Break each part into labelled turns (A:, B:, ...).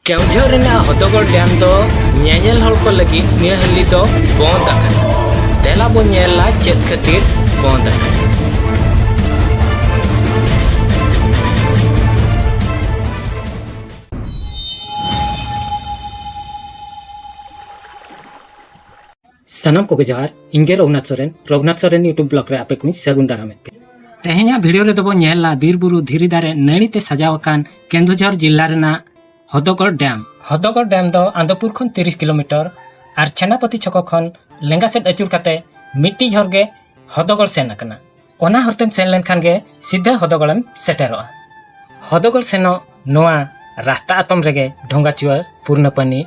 A: ᱠᱮᱣᱡᱷᱚᱨ ᱨᱮᱱᱟᱜ ᱦᱚᱛᱚᱜᱚᱲ ᱰᱮᱢ ᱫᱚ ᱧᱮᱧᱮᱞ ᱦᱚᱲ ᱠᱚ ᱞᱟᱹᱜᱤᱫ ᱱᱤᱭᱟᱹ ᱦᱟᱹᱞᱤ ᱫᱚ ᱵᱚᱱᱫ ᱟᱠᱟᱱᱟ ᱫᱮᱞᱟ ᱵᱚᱱ ᱧᱮᱞᱟ ᱪᱮᱫ ᱠᱷᱟᱹᱛᱤᱨ ᱵᱚᱱᱫ ᱟᱠᱟᱱᱟ ᱥᱟᱱᱟᱢ ᱠᱚᱜᱮ ᱡᱚᱦᱟᱨ ᱤᱧ ᱜᱮ ᱨᱚᱜᱷᱩᱱᱟᱛᱷ ᱥᱚᱨᱮᱱ ᱨᱚᱜᱷᱩᱱᱟᱛᱷ ᱥᱚᱨᱮᱱ ᱤᱭᱩᱴᱩᱵᱽ ᱵᱞᱚᱜ ᱨᱮ ᱟᱯᱮ ᱠᱚᱧ ᱥᱟᱹᱜᱩᱱ ᱫᱟᱨᱟᱢᱮᱫ ᱯᱮ ᱛᱮᱦᱮᱧᱟᱜ ᱵᱷᱤᱰᱤᱭᱳ ᱨᱮᱫᱚ ᱵᱚᱱ ᱧᱮᱞᱟ ᱵᱤᱨ ᱵᱩᱨᱩ ᱫᱷᱤᱨᱤ ᱫᱟᱨᱮ ᱱᱟᱹᱲᱤ ᱛᱮ ᱥᱟᱡᱟᱣ ᱟᱠᱟᱱ ᱠᱮᱱᱫᱩᱡᱷᱚᱨ ᱡᱤᱞᱟ ᱨᱮᱱᱟᱜ ᱦᱚᱫᱚᱜᱚᱲ ᱰᱮᱢ ᱦᱚᱫᱚᱜᱚᱲ ᱰᱮᱢ ᱫᱚ ᱟᱱᱫᱚᱯᱩᱨ ᱠᱷᱚᱱ ᱛᱤᱨᱤᱥ ᱠᱤᱞᱳᱢᱤᱴᱟᱨ ᱟᱨ ᱪᱷᱮᱱᱟᱯᱚᱛᱤ ᱪᱷᱚᱠᱚ ᱠᱷᱚᱱ ᱞᱮᱸᱜᱟ ᱥᱮᱫ ᱟᱹᱪᱩᱨ ᱠᱟᱛᱮ ᱢᱤᱫᱴᱤᱡ ᱦᱚᱨ ᱜᱮ ᱦᱚᱫᱚᱜᱚᱲ ᱥᱮᱱ ᱟᱠᱟᱱᱟ ᱚᱱᱟ ᱦᱚᱨᱛᱮᱢ ᱥᱮᱱ ᱞᱮᱱᱠᱷᱟᱱ ᱜᱮ ᱥᱤᱫᱷᱟᱹ ᱦᱚᱫᱚᱜᱚᱲᱮᱢ ᱥᱮᱴᱮᱨᱚᱜᱼᱟ ᱦᱚᱫᱚᱜᱚᱲ ᱥᱮᱱᱚᱜ ᱱᱚᱣᱟ ᱨᱟᱥᱛᱟ ᱟᱛᱚᱢ ᱨᱮᱜᱮ ᱰᱷᱚᱸᱜᱟᱪᱩᱣᱟᱹ ᱯᱩᱨᱱᱟᱯᱟᱱᱤ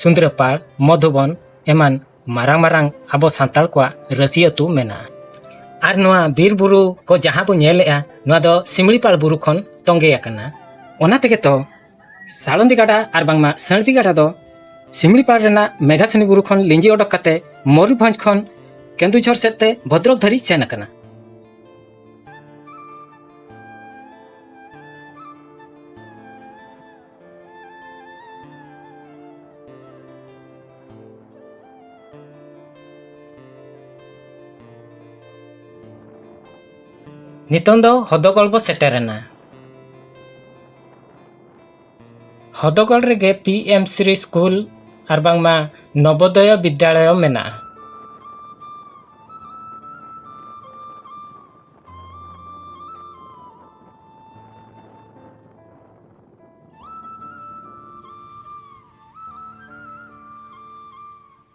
A: ᱥᱩᱸᱫᱽᱨᱟᱹᱯᱟᱲ ᱢᱚᱫᱷᱩᱵᱚᱱ ᱮᱢᱟᱱ ᱢᱟᱨᱟᱝ ᱢᱟᱨᱟᱝ ᱟᱵᱚ ᱥᱟᱱᱛᱟᱲ ᱠᱚᱣᱟᱜ ᱨᱟᱹᱥᱤ ᱟᱹᱛᱩ ᱢᱮᱱᱟᱜᱼᱟ ᱟᱨ ᱱᱚᱣᱟ ᱵᱤᱨ ᱵᱩᱨᱩ ᱠᱚ ᱡᱟᱦᱟᱸ ᱵᱚ ᱧᱮᱞᱮᱜᱼᱟ ᱱᱚᱣᱟ ᱫᱚ ᱥᱤᱢᱲᱤᱯᱟᱲ ᱵᱩᱨᱩ ᱠᱷᱚᱱ ᱛᱚᱸᱜᱮ ᱟᱠᱟᱱᱟ ᱚᱱᱟ ᱛᱮᱜᱮ ᱛᱚ ᱥᱟᱲᱚᱱᱫᱤ ᱜᱟᱰᱟ ᱟᱨ ᱵᱟᱝᱢᱟ ᱥᱟᱹᱬᱫᱤ ᱜᱟᱰᱟ ᱫᱚ ᱥᱤᱢᱲᱤᱯᱟᱲ ᱨᱮᱱᱟᱜ ᱢᱮᱜᱷᱟᱥᱤᱱᱤ ᱵᱩᱨᱩ ᱠᱷᱚᱱ ᱞᱤᱸᱡᱤ ᱚᱰᱚᱠ ᱠᱟᱛᱮ ᱢᱚᱭᱩᱨᱵᱷᱚᱸᱡᱽ ᱠᱷᱚᱱ ᱠᱮᱱᱫᱩᱡᱷᱚᱨ ᱥᱮᱫ ᱛᱮ ᱵᱷᱚᱫᱨᱚᱠ ᱫᱷᱟᱹᱨᱤᱡ ᱥᱮᱱ ᱟᱠᱟᱱᱟ ᱱᱤᱛᱚᱝ ᱫᱚ ᱦᱚᱫᱚᱜᱚᱲ ᱵᱚ ᱥᱮᱴᱮᱨᱮᱱᱟ ᱦᱚᱫᱚᱜᱚᱲ ᱨᱮᱜᱮ ᱯᱤ ᱮᱢ ᱥᱨᱤ ᱥᱠᱩᱞ ᱟᱨ ᱵᱟᱝᱢᱟ ᱱᱚᱵᱚᱫᱚᱭᱚ ᱵᱤᱫᱽᱫᱟᱞᱚᱭ ᱢᱮᱱᱟᱜᱼᱟ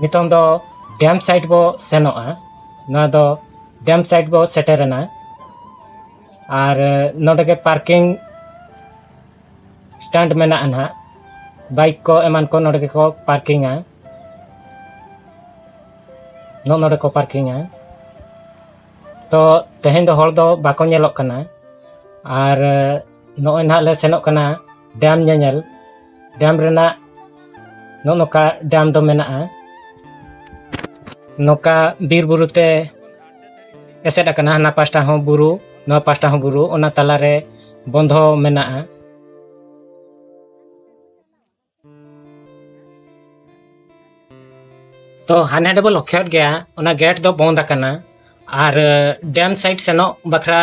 A: ᱱᱤᱛᱚᱝ ᱫᱚ ᱰᱮᱢ ᱥᱟᱭᱤᱰ ᱵᱚ ᱥᱮᱱᱚᱜᱼᱟ ᱱᱚᱣᱟ ᱫᱚ ᱰᱮᱢ ᱥᱟᱭᱤᱰ ᱵᱚ ᱥᱮᱴᱮᱨᱮᱱᱟ ᱟᱨ ᱱᱚᱰᱮ ᱜᱮ ᱯᱟᱨᱠᱤᱝ ᱥᱴᱟᱱᱴ ᱢᱮᱱᱟᱜᱼᱟ ᱱᱟᱦᱟᱜ ᱵᱟᱭᱤᱠ ᱠᱚ ᱮᱢᱟᱱ ᱠᱚ ᱱᱚᱰᱮ ᱜᱮᱠᱚ ᱯᱟᱨᱠᱤᱝᱟ ᱱᱚ ᱱᱚᱰᱮ ᱠᱚ ᱯᱟᱨᱠᱤᱝᱟ ᱛᱚ ᱛᱮᱦᱮᱧ ᱫᱚ ᱦᱚᱲ ᱫᱚ ᱵᱟᱠᱚ ᱧᱮᱞᱚᱜ ᱠᱟᱱᱟ ᱟᱨ ᱱᱚᱜᱼᱚᱭ ᱱᱟᱦᱟᱜ ᱞᱮ ᱥᱮᱱᱚᱜ ᱠᱟᱱᱟ ᱰᱮᱢ ᱧᱮᱧᱮᱞ ᱰᱮᱢ ᱨᱮᱱᱟᱜ ᱱᱚᱜᱼᱚ ᱱᱚᱝᱠᱟ ᱰᱮᱢ ᱫᱚ ᱢᱮᱱᱟᱜᱼᱟ ᱱᱚᱝᱠᱟ ᱵᱤᱨ ᱵᱩᱨᱩ ᱛᱮ ᱮᱥᱮᱫ ᱟᱠᱟᱱᱟ ᱦᱟᱱᱟ ᱯᱟᱥᱴᱟ ᱦᱚᱸ ᱵᱩᱨᱩ ᱱᱚᱣᱟ ᱯᱟᱥᱴᱟ ᱦᱚᱸ ᱵᱩᱨᱩ ᱚᱱᱟ ᱛᱟᱞᱟᱨᱮ ᱵᱚᱱᱫᱷᱚ ᱢᱮᱱᱟᱜᱼᱟ ᱛᱚ ᱦᱟᱱᱮ ᱦᱟᱸᱰᱮ ᱵᱚ ᱞᱚᱠᱠᱷᱚᱭᱮᱫ ᱜᱮᱭᱟ ᱚᱱᱟ ᱜᱮᱴ ᱫᱚ ᱵᱚᱱᱫ ᱟᱠᱟᱱᱟ ᱟᱨ ᱰᱮᱢ ᱥᱟᱭᱤᱰ ᱥᱮᱱᱚᱜ ᱵᱟᱠᱷᱨᱟ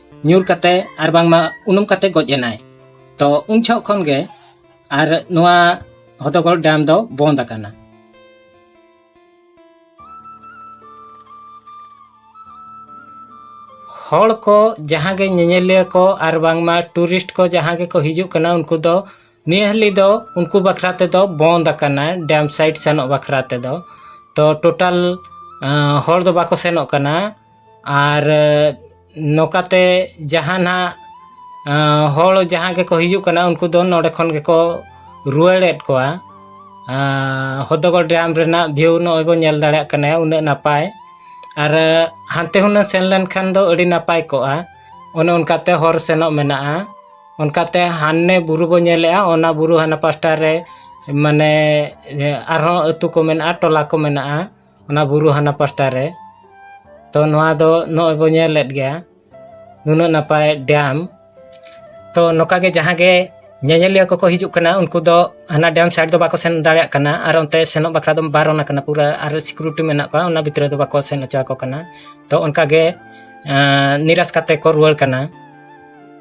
A: ᱧᱩᱨ ᱠᱟᱛᱮ ᱟᱨ ᱵᱟᱝᱢᱟ ᱩᱱᱩᱢ ᱠᱟᱛᱮ ᱜᱚᱡ ᱮᱱᱟᱭ ᱛᱚ ᱩᱱ ᱡᱷᱚᱜ ᱠᱷᱚᱱ ᱜᱮ ᱟᱨ ᱱᱚᱣᱟ ᱦᱚᱫᱚᱜᱚᱲ ᱰᱮᱢ ᱫᱚ ᱵᱚᱱᱫ ᱟᱠᱟᱱᱟ ᱦᱚᱲ ᱠᱚ ᱡᱟᱦᱟᱸ ᱜᱮ ᱧᱮᱧᱮᱞᱤᱭᱟᱹ ᱠᱚ ᱟᱨ ᱵᱟᱝᱢᱟ ᱴᱩᱨᱤᱥᱴ ᱠᱚ ᱡᱟᱦᱟᱸ ᱜᱮᱠᱚ ᱦᱤᱡᱩᱜ ᱠᱟᱱᱟ ᱩᱱᱠᱩ ᱫᱚ ᱱᱤᱭᱟᱹ ᱦᱟᱹᱞᱤ ᱫᱚ ᱩᱱᱠᱩ ᱵᱟᱠᱷᱨᱟ ᱛᱮᱫᱚ ᱵᱚᱱᱫ ᱟᱠᱟᱱᱟ ᱰᱮᱢ ᱥᱟᱭᱤᱰ ᱥᱮᱱᱚᱜ ᱵᱟᱠᱷᱨᱟ ᱛᱮᱫᱚ ᱛᱚ ᱴᱳᱴᱟᱞ ᱦᱚᱲ ᱫᱚ ᱵᱟᱠᱚ ᱥᱮᱱᱚᱜ ᱠᱟᱱᱟ ᱟᱨ ᱱᱚᱝᱠᱟᱛᱮ ᱡᱟᱦᱟᱸ ᱱᱟᱦᱟᱜ ᱦᱚᱲ ᱡᱟᱦᱟᱸ ᱜᱮᱠᱚ ᱦᱤᱡᱩᱜ ᱠᱟᱱᱟ ᱩᱱᱠᱩ ᱫᱚ ᱱᱚᱰᱮ ᱠᱷᱚᱱ ᱜᱮᱠᱚ ᱨᱩᱣᱟᱹᱲᱮᱫ ᱠᱚᱣᱟ ᱦᱚᱫᱚᱜᱚᱲ ᱰᱮᱢ ᱨᱮᱱᱟᱜ ᱵᱷᱤᱭᱩ ᱱᱚᱜᱼᱚᱭ ᱵᱚᱱ ᱧᱮᱞ ᱫᱟᱲᱮᱭᱟᱜ ᱠᱟᱱᱟ ᱩᱱᱟᱹᱜ ᱱᱟᱯᱟᱭ ᱟᱨ ᱦᱟᱱᱛᱮ ᱦᱩᱱᱟᱹᱝ ᱥᱮᱱ ᱞᱮᱱᱠᱷᱟᱱ ᱫᱚ ᱟᱹᱰᱤ ᱱᱟᱯᱟᱭ ᱠᱚᱜᱼᱟ ᱚᱱᱮ ᱚᱱᱠᱟᱛᱮ ᱦᱚᱨ ᱥᱮᱱᱚᱜ ᱢᱮᱱᱟᱜᱼᱟ ᱚᱱᱠᱟᱛᱮ ᱦᱟᱱᱮ ᱵᱩᱨᱩ ᱵᱚᱱ ᱧᱮᱞᱮᱜᱼᱟ ᱚᱱᱟ ᱵᱩᱨᱩ ᱦᱟᱱᱟ ᱯᱟᱥᱴᱟ ᱨᱮ ᱢᱟᱱᱮ ᱟᱨᱦᱚᱸ ᱟᱛᱳ ᱠᱚ ᱢᱮᱱᱟᱜᱼᱟ ᱴᱚᱞᱟ ᱠᱚ ᱢᱮᱱᱟᱜᱼᱟ ᱚᱱᱟ ᱵᱩᱨᱩ ᱦᱟᱱᱟ ᱯᱟᱥᱴᱟ ᱨᱮ ᱛᱚ ᱱᱚᱣᱟ ᱫᱚ ᱱᱚᱜᱼᱚᱭ ᱵᱚᱱ ᱧᱮᱞᱮᱫ ᱜᱮᱭᱟ ᱱᱩᱱᱟᱹᱜ ᱱᱟᱯᱟᱭ ᱰᱮᱢ ᱛᱚ ᱱᱚᱝᱠᱟ ᱜᱮ ᱡᱟᱦᱟᱸ ᱜᱮ ᱧᱮᱧᱮᱞᱤᱭᱟᱹ ᱠᱚᱠᱚ ᱦᱤᱡᱩᱜ ᱠᱟᱱᱟ ᱩᱱᱠᱩ ᱫᱚ ᱦᱟᱱᱟ ᱰᱮᱢ ᱥᱟᱭᱤᱰ ᱫᱚ ᱵᱟᱠᱚ ᱥᱮᱱ ᱫᱟᱲᱮᱭᱟᱜ ᱠᱟᱱᱟ ᱟᱨ ᱚᱱᱛᱮ ᱥᱮᱱᱚᱜ ᱵᱟᱠᱷᱨᱟ ᱫᱚ ᱵᱟᱨᱚᱱ ᱟᱠᱟᱱᱟ ᱯᱩᱨᱟᱹ ᱟᱨ ᱥᱤᱠᱩᱨᱤᱴᱤ ᱢᱮᱱᱟᱜ ᱠᱚᱣᱟ ᱚᱱᱟ ᱵᱷᱤᱛᱨᱤ ᱫᱚ ᱵᱟᱠᱚ ᱥᱮᱱ ᱦᱚᱪᱚ ᱟᱠᱚ ᱠᱟᱱᱟ ᱛᱚ ᱚᱱᱠᱟ ᱜᱮ ᱱᱤᱨᱟᱥ ᱠᱟᱛᱮ ᱠᱚ ᱨᱩᱣᱟᱹᱲ ᱠᱟᱱᱟ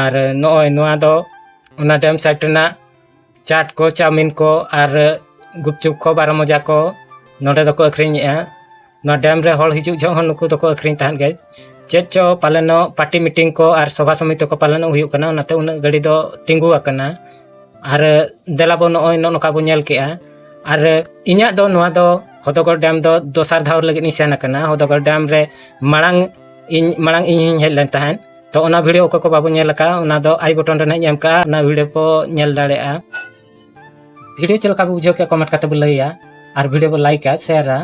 A: ᱟᱨ ᱱᱚᱜᱼᱚᱭ ᱱᱚᱣᱟ ᱫᱚ ᱚᱱᱟ ᱰᱮᱢ ᱥᱟᱭᱤᱰ ᱨᱮᱱᱟᱜ ᱪᱟᱴ ᱠᱚ ᱪᱟᱣᱢᱤᱱ ᱠᱚ ᱟᱨ ᱜᱩᱯᱪᱩᱯ ᱠᱚ ᱵᱟᱨᱚ ᱢᱚᱡᱟ ᱠᱚ ᱱᱚᱰᱮ ᱫᱚᱠᱚ ᱟᱹᱠᱷᱨᱤᱧᱮᱜᱼᱟ ᱱᱚᱣᱟ ᱰᱮᱢ ᱨᱮ ᱦᱚᱲ ᱦᱤᱡᱩᱜ ᱡᱚᱦᱚᱜ ᱦᱚᱸ ᱱᱩᱠᱩ ᱫᱚᱠᱚ ᱟᱹᱠᱷᱨᱤᱧ ᱛᱟᱦᱮᱸᱫ ᱜᱮ ᱪᱮᱫ ᱪᱚ ᱯᱟᱞᱮᱱᱚᱜ ᱯᱟᱨᱴᱤ ᱢᱤᱴᱤᱝ ᱠᱚ ᱟᱨ ᱥᱚᱵᱷᱟ ᱥᱚᱢᱤᱛᱤ ᱠᱚ ᱯᱟᱞᱮᱱᱚᱜ ᱦᱩᱭᱩᱜ ᱠᱟᱱᱟ ᱚᱱᱟᱛᱮ ᱩᱱᱟᱹᱜ ᱜᱟᱹᱰᱤ ᱫᱚ ᱛᱤᱸᱜᱩ ᱟᱠᱟᱱᱟ ᱟᱨ ᱫᱮᱞᱟ ᱵᱚ ᱱᱚᱜᱼᱚᱭ ᱱᱚᱜᱼᱚ ᱱᱚᱝᱠᱟ ᱵᱚ ᱧᱮᱞ ᱠᱮᱜᱼᱟ ᱟᱨ ᱤᱧᱟᱹᱜ ᱫᱚ ᱱᱚᱣᱟ ᱫᱚ ᱦᱚᱫᱚᱜᱚᱲ ᱰᱮᱢ ᱫᱚ ᱫᱚᱥᱟᱨ ᱫᱷᱟᱣ ᱞᱟᱹᱜᱤᱫ ᱤᱧ ᱥᱮᱱ ᱟᱠᱟᱱᱟ ᱦᱚᱫᱚᱜᱚᱲ ᱰᱮᱢ ᱨᱮ ᱢᱟᱲᱟᱝ ᱤᱧ ᱢᱟᱲᱟᱝ ᱤᱧ ᱦᱚᱧ ᱦᱮᱡ ᱞᱮᱱ ᱛᱟᱦᱮᱸᱫ ᱛᱚ ᱚᱱᱟ ᱵᱷᱤᱰᱤᱭᱳ ᱚᱠᱚᱭ ᱠᱚ ᱵᱟᱵᱚ ᱧᱮᱞ ᱟᱠᱟᱫᱼᱟ ᱚᱱᱟ ᱫᱚ ᱟᱭ ᱵᱚᱴᱚᱱ ᱨᱮ ᱱᱟᱦᱟᱜ ᱤᱧ ᱮᱢ ᱠᱟᱜᱼᱟ ᱚᱱᱟ ᱵᱷᱤᱰᱤᱭᱳ ᱠᱚ ᱧᱮᱞ ᱫᱟᱲᱮᱭᱟᱜᱼᱟ ᱵᱷᱤᱰᱤᱭᱳ ᱪᱮᱫ ᱞᱮᱠᱟ ᱵᱚ ᱵᱩᱡᱷᱟᱹᱣ ᱠᱮᱫᱼᱟ ᱠᱚᱢᱮᱱᱴ ᱠᱟᱛᱮ ᱵᱚ ᱞᱟᱹᱭᱟ ᱟᱨ ᱵᱷᱤᱰᱤᱭᱳ ᱵᱚ ᱞᱟᱭᱤᱠᱟ ᱥᱮᱭᱟᱨᱟ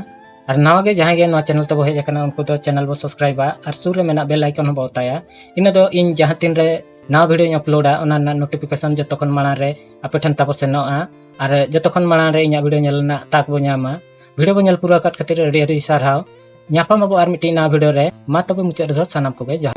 A: ᱟᱨ ᱱᱟᱣᱟ ᱜᱮ ᱡᱟᱦᱟᱸᱭ ᱜᱮ ᱱᱚᱣᱟ ᱪᱮᱱᱮᱞ ᱛᱮᱵᱚ ᱦᱮᱡ ᱟᱠᱟᱱᱟ ᱩᱱᱠᱩ ᱫᱚ ᱪᱮᱱᱮᱞ ᱵᱚ ᱥᱟᱵᱥᱠᱨᱟᱭᱤᱵᱟ ᱟᱨ ᱥᱩᱨ ᱨᱮ ᱢᱮᱱᱟᱜ ᱵᱮᱞ ᱟᱭᱠᱚᱱ ᱦᱚᱸ ᱵᱚ ᱚᱛᱟᱭᱟ ᱤᱱᱟᱹ ᱫᱚ ᱤᱧ ᱡᱟᱦᱟᱸ ᱛᱤᱱ ᱨᱮ ᱱᱟᱣᱟ ᱵᱷᱤᱰᱤᱭᱳᱧ ᱟᱯᱞᱳᱰᱟ ᱚᱱᱟ ᱨᱮᱱᱟᱜ ᱱᱳᱴᱤᱯᱷᱤᱠᱮᱥᱚᱱ ᱡᱚᱛᱚ ᱠᱷᱚᱱ ᱢᱟᱲᱟᱝ ᱨᱮ ᱟᱯᱮ ᱴᱷᱮᱱ ᱛᱟᱵᱚ ᱥᱮᱱᱚᱜᱼᱟ ᱟᱨ ᱡᱚᱛᱚ ᱠᱷᱚᱱ ᱢᱟᱲᱟᱝ ᱨᱮ ᱤᱧᱟᱹᱜ ᱵᱷᱤᱰᱤᱭᱳ ᱧᱮᱞ ᱨᱮᱱᱟᱜ ᱛᱟᱠ ᱵᱚ ᱧᱟᱢᱟ ᱵᱷᱤᱰᱤᱭᱳ ᱵᱚᱱ ᱧᱮᱞ ᱯᱩᱨᱟᱹᱣ ᱟᱠᱟᱫ ᱠᱷᱟᱹᱛᱤᱨ ᱟᱹᱰᱤ ᱟᱹᱰᱤ ᱥᱟᱨᱦᱟᱣ ᱧᱟᱯᱟᱢ ᱟᱵᱚ ᱟᱨ ᱢᱤᱫᱴᱤᱡ ᱱᱟᱣᱟ ᱵᱷᱤᱰᱤᱭᱳ ᱨᱮ ᱢᱟ ᱛᱚᱵᱮ ᱢᱩᱪᱟᱹᱫ ᱨᱮᱫᱚ ᱥᱟᱱᱟᱢ ᱠᱚᱜᱮ ᱡᱚᱦᱟᱨ